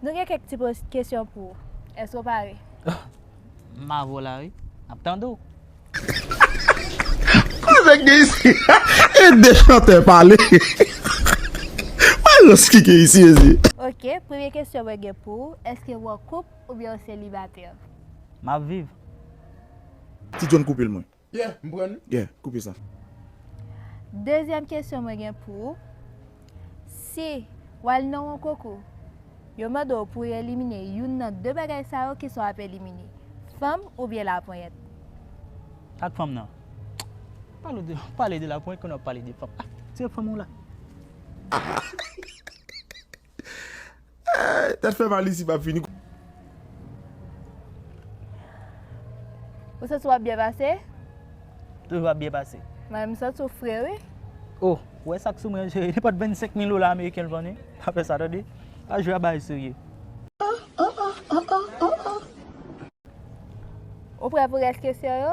Nou gen kèk ti poz kesyon pou ou. Èske ou pare? M avè w la wi. M ap tande w. Koze k gen isi a? E de chantè pale. Mayos ki gen isi mezye? Ok, premye kesyon mwen gen pou ou, èske w an koup oubyen w selibatè? M ap viv. Ti John koupe l mwen. Yeah, m pran li. Yeah, koupe sa. Dezyèm kesyon mwen gen pou ou, Si w al nan yon konkou, yo mande w pou w elimine youn nan de bagay sa yo, kisa w ap elimine? Fanm oubyen laponyèt? Ak fanm nan. Pale de laponyèt konnen w ap pale de fanm. Ah, se fanm ou la. Tèt fè mal isi pap fini. Ou santi wap byen pase? Toujou ap byen pase. Mwen menm m santi w fre wi. Oh, ou wè sak sou mwen an chérie, nenpòt 25 mil dola ameriken l vann wi. Pa fè sa tande. Pa jwe a bagay serye. Ou prè pou rès kesyon yo?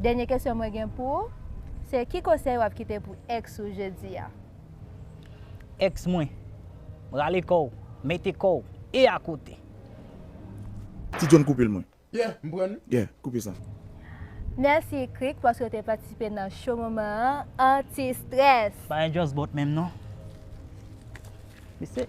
Dènye kesyon mwen gen pou ou se ki konsèy wap kite pou ex ou jodi a? Ex mwen, rale kòw, mete kòw e akote. Ti John koupel mwen. Yeah, m pran li. Yeah, koupe sa. Mèsi Krik paske w te patisipe nan Show Moman an Anti Stress! Bagay just bòt menm non. Mesi.